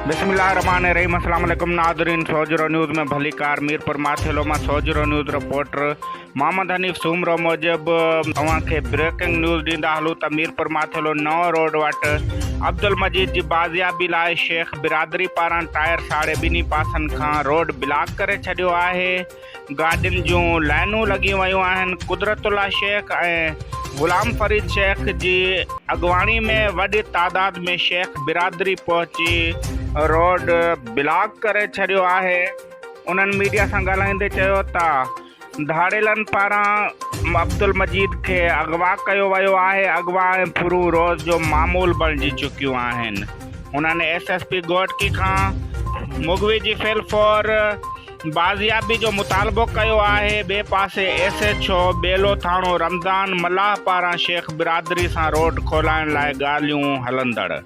بسم الله الرحمن الرحيم السلام عليڪم ناظرين سوجهرو نيوز ۾ ڀلي ڪار ميرپور ماٿيلو مان سوجهرو نيوز رپورٽر محمد حنيف سومرو موجب اوهان کي بريڪنگ نيوز ڏيندا هلون ته ميرپور ماٿيلو نئون روڊ وٽ عبدالمجيد جي بازيابي لاء شيخ برادري پاران ٽائر ساڙي ٻنهي پاسن کان روڊ بلاڪ ڪري ڇڏيو آهي گاڏين جون لائنون لڳي ويون آهن قدرت الله شيخ ۽ غلام فريد شيخ جي اڳواڻي ۾ وڏي تعداد ۾ شيخ برادري پهچي روڊ بلاڪ ڪري ڇڏيو آهي انهن ميڊيا سان ڳالهائيندي چيو ته ڌاڙيلن پاران عبدالمجيد کي اغوا ڪيو ويو آهي، اغوا ۽ ڦرون روز جو معمول بڻجي چڪيون آهن، هنن ايس ايس پي گهوٽڪي کان مغوي جي فعل فور بازيابي جو مطالبو ڪيو آهي، ٻئي پاسي ايس ايڇ او ٻيلو ٿاڻو رمضان ملاح پاران شيخ برادري سان روڊ کولائڻ لاء ڳالهيون هلندڙ.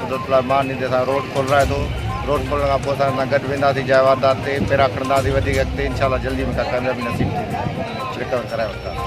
قدرت الله مان ايندي اسان روڊ کولرائي ٿو روڊ کولڻ کان پوء اسان سان گڏ وينداسين جاء واردات تي پيرا کڻنداسين وڌيڪ اڳتي انشاء الله جلدي مون کان ڪاميابي نصيب ٿيندي رڪور ڪرائي وٺنداسين.